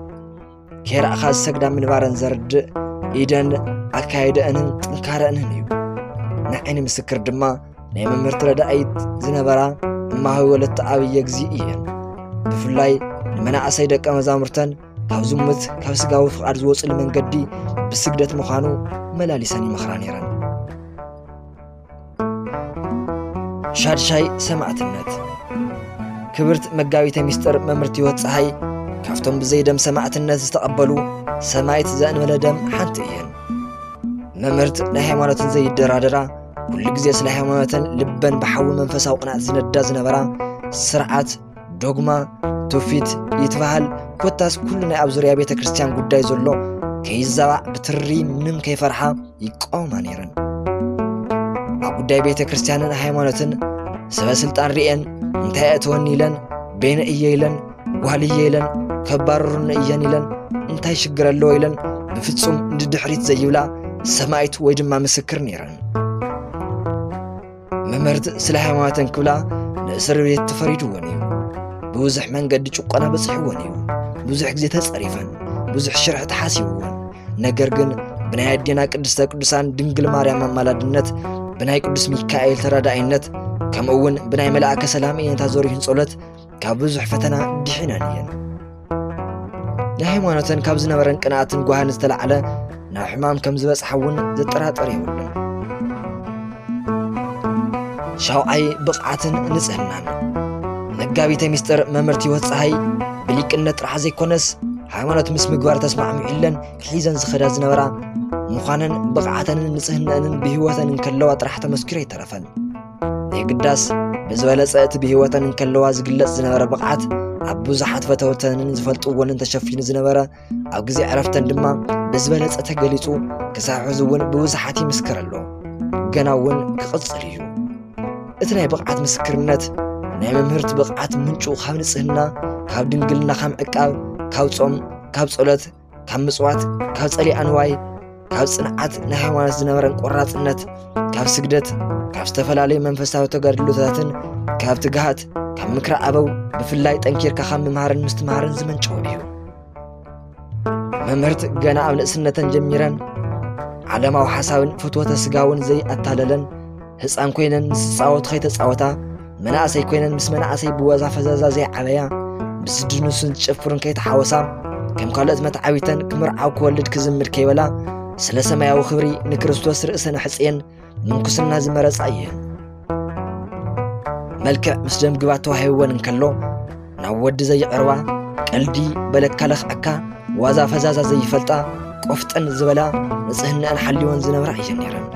ኬራእኻ ዝሰግዳ ምንባረን ዘርድእ ኢደን ኣካይደአንን ጥንካረአንን እዩ ንዓይኒ ምስክር ድማ ናይ መምህርቲ ረዳኢት ዝነበራ እማዊ ወለተ ኣብየ ግዜ እየን ብፍላይ ንመናእሰይ ደቀ መዛሙርተን ካብ ዝሙት ካብ ስጋዊ ፍቓድ ዝወፅሉ መንገዲ ብስግደት ምዃኑ መላሊሰን ይመኽራ ነይረን ሻድሻይ ሰማዕትነት ክብርት መጋቢተ ሚስጥር መምህርት ህይወት ፀሓይ ካብቶም ብዘይ ደም ሰማዕትነት ዝተቐበሉ ሰማይት ዘእንበለ ደም ሓንቲ እየን። መምህርት ናይ ሃይማኖትን ዘይደራደራ ኩሉ ግዜ ስለ ሃይማኖተን ልበን ብሓዊ መንፈሳዊ ቅንዓት ዝነዳ ዝነበራ ስርዓት ዶግማ ትውፊት ይትበሃል ኮታስ ኩሉ ናይ ኣብ ዙርያ ቤተ ክርስቲያን ጉዳይ ዘሎ ከይዛባዕ ብትሪ ምንም ከይፈርሓ ይቃወማ ነይረን ኣብ ጉዳይ ቤተ ክርስቲያንን ሃይማኖትን ሰበ ስልጣን ርኤን እንታይ እእትወኒ ኢለን ቤነ እየ ኢለን ጓል እየ ኢለን ከባርሩኒ እየን ኢለን እንታይ ሽግር ኣለዎ ኢለን ብፍጹም ንድሕሪት ዘይብላ ሰማይት ወይ ድማ ምስክር ነይረን መምህርት ስለ ሃይማኖተን ክብላ ንእስር ቤት ተፈሪድወን እዩ ብብዙሕ መንገዲ ጭቆና በፂሕወን እዩ ብዙሕ ግዜ ተፀሪፈን ብዙሕ ሽርሒ ተሓሲብወን ነገር ግን ብናይ ኣዴና ቅድስተ ቅዱሳን ድንግል ማርያም ኣማላድነት ብናይ ቅዱስ ሚካኤል ተራዳኢነት ከምኡ እውን ብናይ መልኣከ ሰላም እየንታ ዘሪሁን ጸሎት ካብ ብዙሕ ፈተና ድሒነን እየን ንሃይማኖተን ካብ ዝነበረን ቅንኣትን ጓህን ዝተላዕለ ናብ ሕማም ከም ዝበጽሓ እውን ዘጠራጠር የብሉን ሻውዓይ ብቕዓትን ንጽህናን መጋቢተ ሚስጥር መምህርቲ ህይወት ፀሃይ ብሊቅነት ጥራሕ ዘይኮነስ ሃይማኖት ምስ ምግባር ተስማዕሚዑለን ሒዘን ዝኸዳ ዝነበራ ምዃነን ብቕዓተንን ንጽህነንን ብህይወተን እንከለዋ ጥራሕ ተመስኪሩ ኣይተረፈን የግዳስ ብዝበለጸ እቲ ብህይወተን እንከለዋ ዝግለጽ ዝነበረ ብቕዓት ኣብ ብዙሓት ፈተውተንን ዝፈልጥዎንን ተሸፊኑ ዝነበረ ኣብ ግዜ ዕረፍተን ድማ ብዝበለጸ ተገሊጹ ክሳብ ሕዚ እውን ብብዙሓት ይምስክር ኣሎ ገና እውን ክቕጽል እዩ እቲ ናይ ብቕዓት ምስክርነት ናይ መምህርቲ ብቕዓት ምንጩ ካብ ንጽህና ካብ ድንግልና ካብ ዕቃብ ካብ ጾም ካብ ጸሎት ካብ ምጽዋት ካብ ጸሊኣ ንዋይ ካብ ጽንዓት ናይ ሃይማኖት ዝነበረን ቆራጽነት ካብ ስግደት ካብ ዝተፈላለዩ መንፈሳዊ ተጋድሎታትን ካብ ትግሃት ካብ ምክሪ ኣበው ብፍላይ ጠንኪርካ ካብ ምምሃርን ምስትምሃርን ዝመንጨው እዩ መምህርት ገና ኣብ ንእስነተን ጀሚረን ዓለማዊ ሓሳብን ፍትወተ ስጋውን ዘይኣታለለን ህፃን ኮይነን ምስ ዝፃወቱ ከይተፃወታ መናእሰይ ኮይነን ምስ መናእሰይ ብዋዛ ፈዛዛ ዘይዓበያ ብዝድንሱን ዝጨፍሩን ከይተሓወሳ ከም ካልኦት መትዓቢተን ክምርዓው ክወልድ ክዝምድ ከይበላ ስለ ሰማያዊ ክብሪ ንክርስቶስ ርእሰን ኣሕፅየን ምንኩስና ዝመረፃ እየን መልክዕ ምስ ደም ግባት ተዋሂብወን እንከሎ ናብ ወዲ ዘይቐርባ ቀልዲ በለካ ለኽዐካ ዋዛ ፈዛዛ ዘይፈልጣ ቆፍጠን ዝበላ ንፅህናኣን ሓልወን ዝነብራ እየን ነይረን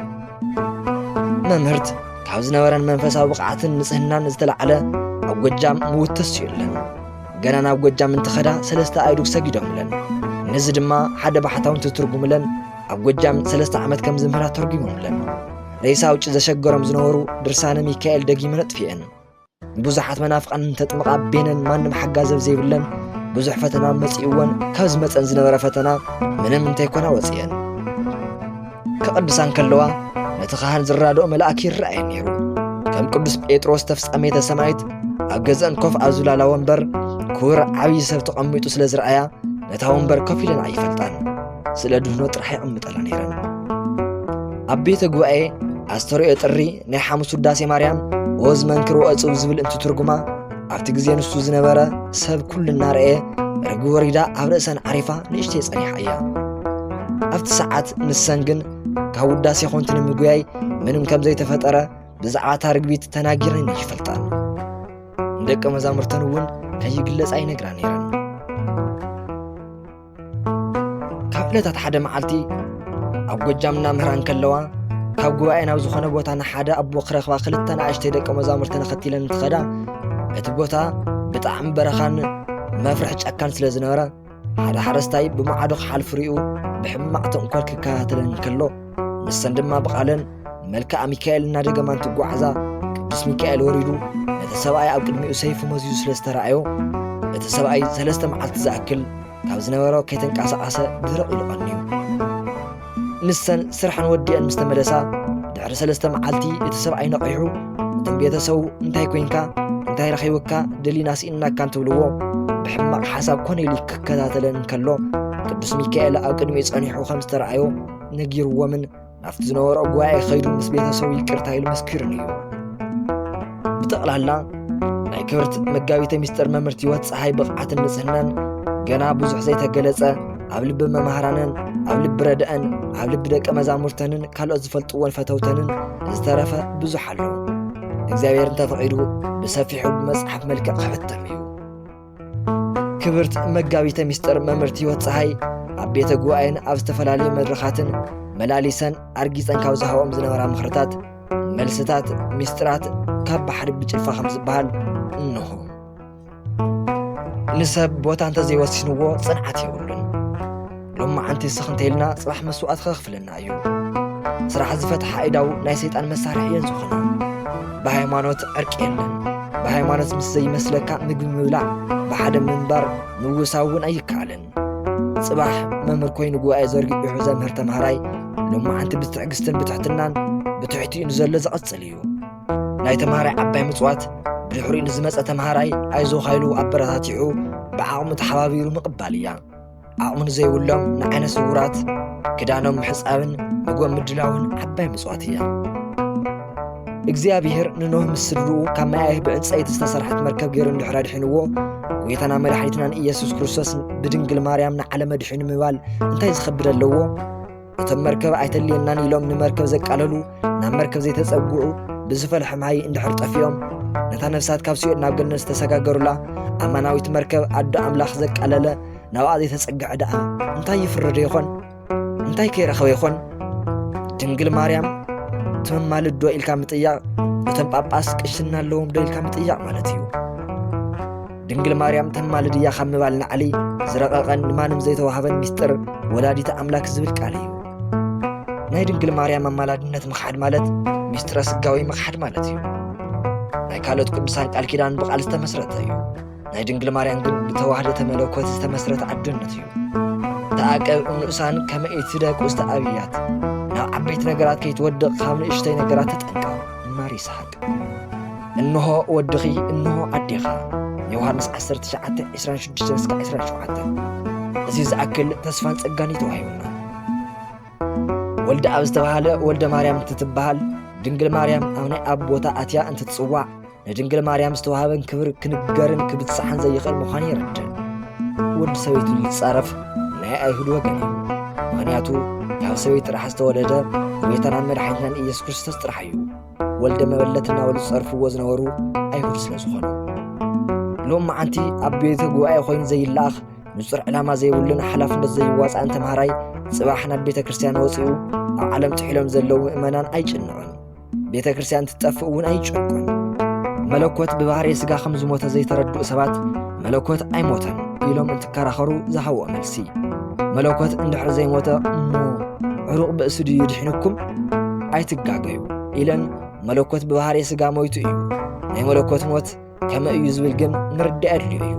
መምህርት ካብ ዝነበረን መንፈሳዊ ብቕዓትን ንጽህናን ዝተላዕለ ኣብ ጎጃም ምውትስ እዩለን ገና ናብ ጎጃም እንትኸዳ ሰለስተ ኣይዱግ ሰጊዶምለን ነዚ ድማ ሓደ ባሕታውን ትትርጉምለን ኣብ ጎጃም ሰለስተ ዓመት ከም ዝምህራ ተርጒሞምለን ሬሳ ውጭ ዘሸገሮም ዝነበሩ ድርሳነ ሚካኤል ደጊመ ነጥፍኤን ንብዙሓት መናፍቓን እንተጥምቓ ቤነን ማንም ሓጋዚ ኣብ ዘይብለን ብዙሕ ፈተና መጺእወን ካብ ዝመጸን ዝነበረ ፈተና ምንም እንተይኮና ወጺኤን ክቕድሳን ከለዋ ነቲ ኻህን ዝራድኦ መልኣክ ይረኣየን ነይሩ ከም ቅዱስ ጴጥሮስ ተፍጻሜተ ሰማይት ኣብ ገዝአን ኮፍ ኣብ ዝብላላ ወንበር ክቡር ዓብዪ ሰብ ተቐሚጡ ስለ ዝረኣያ ነታ ወንበር ኮፍ ኢለን ኣይፈልጣን ስለ ድህኖ ጥራሕ ይቕምጠላ ነይረን ኣብ ቤተ ጉባኤ ኣስተርእዮ ጥሪ ናይ ሓሙስ ውዳሴ ማርያም ኦዝ መንክሮ ዕፅው ዝብል እንትትርጉማ ኣብቲ ግዜ ንሱ ዝነበረ ሰብ ኩሉ እናረእየ ርግ ወሪዳ ኣብ ርእሰን ዓሪፋ ንእሽተይ ጸኒሓ እያ ኣብቲ ሰዓት ንሰን ግን ካብ ውዳሴ ኮንቲ ንምጉያይ ምንም ከም ዘይተፈጠረ ብዛዕባ እታ ርግቢት ተናጊረን ይፈልጣን ንደቂ መዛሙርተን እውን ከይግለጽ ኣይነግራ ነይረን ካብ ዕለታት ሓደ መዓልቲ ኣብ ጎጃም እናምህራን ከለዋ ካብ ጉባኤ ናብ ዝኾነ ቦታ ንሓደ ኣቦ ክረኽባ ክልተ ንኣሽተይ ደቂ መዛሙርቲ ንኸትለን እንትኸዳ እቲ ቦታ ብጣዕሚ በረኻን መፍርሒ ጫካን ስለ ዝነበረ ሓደ ሓረስታይ ብማዕዶ ክሓልፍ ሪኡ ብሕማቕ ተንኮል ክከታተለን ከሎ ንሰን ድማ ብቓለን መልክኣ ሚካኤል እናደገማ እንትጓዓዛ ቅዱስ ሚካኤል ወሪዱ ነቲ ሰብኣይ ኣብ ቅድሚኡ ሰይፉ መዚዙ ስለ ዝተረኣዮ እቲ ሰብኣይ ሰለስተ መዓልቲ ዝኣክል ካብ ዝነበሮ ከይተንቀሳቐሰ ድርቕ ኢሉ ቐንዩ ንሰን ስርሐን ወዲአን ምስ ተመለሳ ድሕሪ ሰለስተ መዓልቲ እቲ ሰብኣይ ነቒሑ እቶም ቤተሰቡ እንታይ ኮንካ እንታይ ረኺብካ ደሊና ስኢንናካ እንትብልዎ ብሕማቕ ሓሳብ ኮነ ኢሉ ክከታተለን እንከሎ ቅዱስ ሚካኤል ኣብ ቅድሚኡ ጸኒሑ ከም ዝተረኣዮ ነጊርዎምን ናብቲ ዝነበሮ ጉባኤ ከይዱ ምስ ቤተሰቡ ይቅርታ ኢሉ መስኪሩን እዩ ብጠቕላላ ናይ ክብርት መጋቢተ ሚስጥር መምህርት ህይወት ፀሓይ ብቕዓትን ንጽህናን ገና ብዙሕ ዘይተገለጸ ኣብ ልቢ መምሃራንን ኣብ ልቢ ረድአን ኣብ ልቢ ደቂ መዛሙርተንን ካልኦት ዝፈልጥዎን ፈተውተንን ዝተረፈ ብዙሕ ኣሎ እግዚኣብሔር እንተፈቒዱ ብሰፊሑ ብመጽሓፍ መልክዕ ክሕተም እዩ ክብርት መጋቢተ ምስጢር መምህርት ህይወት ፀሓይ ኣብ ቤተ ጉባኤን ኣብ ዝተፈላለዩ መድረኻትን መላሊሰን ኣርጊፀን ካብ ዝሃብኦም ዝነበራ ምኽርታት መልስታት ምስጢራት ካብ ባሕሪ ብጭልፋ ከም ዝበሃል እንሆ ንሰብ ቦታ እንተዘይወሲንዎ ፅንዓት የብሉን ሎማዓንቲ ስኽ እንተኢልና ፅባሕ መስዋእቲ ከኽፍለና እዩ። ስራሕ ዝፈትሓ ኣእዳው ናይ ሰይጣን መሳርሒ እየን ዝኾና። ብሃይማኖት ዕርቂ የለን። ብሃይማኖት ምስ ዘይመስለካ ምግቢ ምብላዕ፣ ብሓደ ምንባር፣ ምውሳው እውን ኣይከኣልን። ፅባሕ መምህር ኮይኑ ጉባኤ ዘርጊሑ ዘምህር ተምሃራይ ሎማዓንቲ ብትዕግስትን ብትሕትናን ብትሕቲኡ ንዘሎ ዘቐፅል እዩ። ናይ ተምሃራይ ዓባይ ምፅዋት ብድሕሪኡ ንዝመፀ ተምሃራይ ኣይዞኻ ኢሉ ኣበረታቲዑ ብዓቕሙ ተሓባቢሩ ምቕባል እያ። ዓቕሚ ንዘይብሎም ንዓይነ ስውራት ክዳኖም ምሕፃብን ምግቦም ምድላውን ዓባይ ምፅዋት እያ እግዚኣብሔር ንኖህ ምስ ስድርኡ ካብ መያይህ ብዕንፀይቲ ዝተሰርሐት መርከብ ገይሩ እንድሕር ኣድሒንዎ ጎይታና መድሓኒትናን ኢየሱስ ክርስቶስ ብድንግል ማርያም ንዓለም ኣድሒኑ ምባል እንታይ ዝኸብድ ኣለዎ እቶም መርከብ ኣይተልየናን ኢሎም ንመርከብ ዘቃለሉ ናብ መርከብ ዘይተጸግዑ ብዝፈልሐ ማይ እንድሕር ጠፊኦም ነታ ነፍሳት ካብ ሲኦል ናብ ገነት ዝተሰጋገሩላ ኣማናዊት መርከብ ኣዶ ኣምላኽ ዘቃለለ ናብኣ ዘይተጸግዐ ደኣ እንታይ ይፍረዶ ይኾን እንታይ ከይረኸበ ይኾን ድንግል ማርያም ትመማልድ ዶ ኢልካ ምጥያቕ እቶም ጳጳስ ቅሽና ኣለዎም ዶ ኢልካ ምጥያቕ ማለት እዩ ድንግል ማርያም ተማልድ እያ ካብ ምባል ናዕሊ ዝረቐቐን ንማንም ዘይተዋህበን ሚስጥር ወላዲተ ኣምላክ ዝብል ቃል እዩ ናይ ድንግል ማርያም ኣማላድነት ምኽሓድ ማለት ሚስጥረ ስጋዊ ምኽሓድ ማለት እዩ ናይ ካልኦት ቅዱሳን ቃል ኪዳን ብቓል ዝተመስረተ እዩ ናይ ድንግል ማርያም ግን ብተዋህደ ተመለኮት ዝተመስረተ ዓዶነት እዩ ተኣቀብ ንኡሳን ከመ ኢትደቁ ዝተኣብያት ናብ ዓበይቲ ነገራት ከይትወድቕ ካብ ንእሽተይ ነገራት ተጠንቀቕ ማር ይስሓቅ እንሆ ወድኺ እንሆ ኣዴኻ ዮሃንስ 19 26-27 እዚ ዝኣክል ተስፋን ጸጋን እዩ ተዋሂቡና ወልደ ኣብ ዝተባህለ ወልደ ማርያም እንትትበሃል ድንግል ማርያም ኣብ ናይ ኣብ ቦታ ኣትያ እንትትጽዋዕ ንድንግል ማርያም ዝተዋህበን ክብር ክንገርን ክብጽሓን ዘይኽእል ምዃኑ የረድእ ወዲ ሰበይቱ ዝጻረፍ ናይ ኣይሁድ ወገን እዩ ምክንያቱ ካብ ሰበይቲ ጥራሕ ዝተወለደ ጎይታናን መድሓኒትናን ኢየሱስ ክርስቶስ ጥራሕ እዩ ወልደ መበለት እናበሉ ዝጸርፍዎ ዝነበሩ ኣይሁድ ስለ ዝኾኑ ሎም መዓንቲ ኣብ ቤተ ጉባኤ ኮይኑ ዘይለኣኽ ንጹር ዕላማ ዘይብሉን ሓላፍነት ዘይዋፅኣን ተምሃራይ ጽባሕ ናብ ቤተ ክርስቲያን ወፂኡ ኣብ ዓለም ትሒሎም ዘለዉ ምእመናን ኣይጭንዑን ቤተ ክርስቲያን ትጠፍእ እውን ኣይጨቁን መለኮት ብባህሪ ስጋ ከም ዝሞተ ዘይተረድኡ ሰባት መለኮት ኣይሞተን ኢሎም እንትከራኸሩ ዝሃብዎ መልሲ መለኮት እንድሕር ዘይሞተ እሞ ዕሩቕ ብእሱ ድዩ ድሒኑኩም ኣይትጋገዩ ኢለን መለኮት ብባህርየ ስጋ ሞይቱ እዩ ናይ መለኮት ሞት ከመ እዩ ዝብል ግን ምርዳእ ኣድልዮ እዩ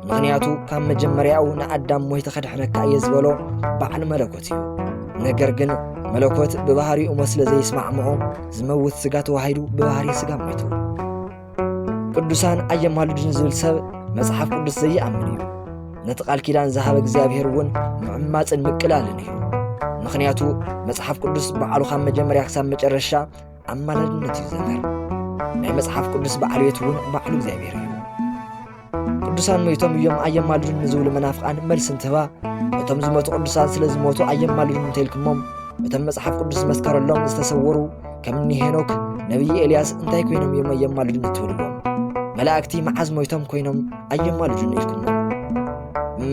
ምኽንያቱ ካብ መጀመርያኡ ንኣዳም ሞይተ ከድሕነካ እየ ዝበሎ በዓል መለኮት እዩ ነገር ግን መለኮት ብባህሪኡ ሞት ስለ ዘይስማዕምዖ ዝመውት ስጋ ተዋሂዱ ብባህሪ ስጋ ሞይቱ ቅዱሳን ኣየማልዱን ዝብል ሰብ መጽሓፍ ቅዱስ ዘይኣምን እዩ ነቲ ቃል ኪዳን ዝሃበ እግዚኣብሔር እውን ምዕማፅን ምቅላልን እዩ ምክንያቱ መጽሓፍ ቅዱስ በዓሉ ካብ መጀመርያ ክሳብ መጨረሻ ኣማላድነት እዩ ዘመር ናይ መጽሓፍ ቅዱስ በዓል ቤት እውን ባዕሉ እግዚኣብሔር እዩ ቅዱሳን ሞይቶም እዮም ኣየማልዱን ንዝብሉ መናፍቓን መልሲ እንትህባ እቶም ዝሞቱ ቅዱሳን ስለ ዝሞቱ ኣየማልዱን እንተይልኩሞም እቶም መጽሓፍ ቅዱስ ዝመስከረሎም ዝተሰወሩ ከም እኒ ሄኖክ ነቢይ ኤልያስ እንታይ ኮይኖም እዮም ኣየማልዱን እትብልዎም መላእክቲ መዓዝ ሞይቶም ኮይኖም ኣየማልዱን ኢልኩሞ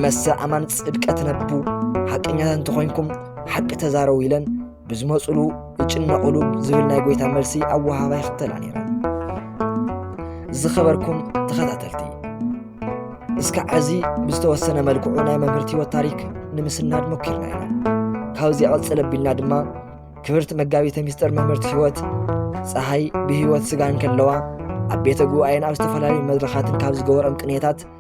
መሰ ኣማን ጽድቀ ትነቡ ሓቀኛታት እንተኾይንኩም ሓቂ ተዛረቡ ኢለን ብዝመፁሉ ይጭነቑሉ ዝብል ናይ ጎይታ መልሲ ኣወሃባ ይኽተላ ነይረን። ዝኸበርኩም ተኸታተልቲ እስከ ዓዚ ብዝተወሰነ መልክዑ ናይ መምህርቲ ህይወት ታሪክ ንምስናድ ሞኪርና ኢና። ካብዚ ቐፅል ኣቢልና ድማ ክብርቲ መጋቢተ ሚስጥር መምህርቲ ህይወት ፀሃይ ብህይወት ስጋ እንከለዋ ኣብ ቤተ ጉባኤን ኣብ ዝተፈላለዩ መድረኻትን ካብ ዝገበሮም ቅንየታት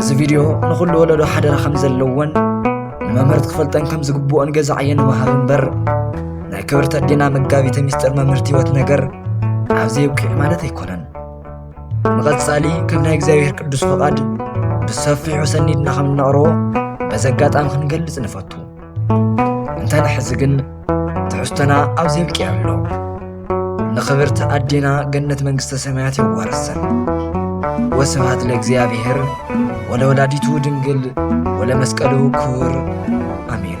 እዚ ቪድዮ ንኹሉ ወለዶ ሓደራ ከም ዘለዎን ንመምህርት ክፈልጠን ከም ዝግብኦን ገዛ ዕየ ንምሃብ እምበር ናይ ክብርቲ ኣዴና መጋቢተ ሚስጥር መምህርት ህይወት ነገር ኣብዚ ይብቅዕ ማለት ኣይኮነን ንቐጻሊ ከም ናይ እግዚኣብሔር ቅዱስ ፈቓድ ብሰፊሑ ሰኒድና ከም እነቕርቦ በዚ ኣጋጣሚ ክንገልጽ ንፈቱ እንተ ንሕዚ ግን ትሕዝቶና ኣብዚ የብቂዕ ኣሎ ንኽብርቲ ኣዴና ገነት መንግስተ ሰማያት የዋርሰን ወስብሃት ለእግዚኣብሔር ወለወላዲቱ ድንግል ወለመስቀሉ ክቡር ኣሜን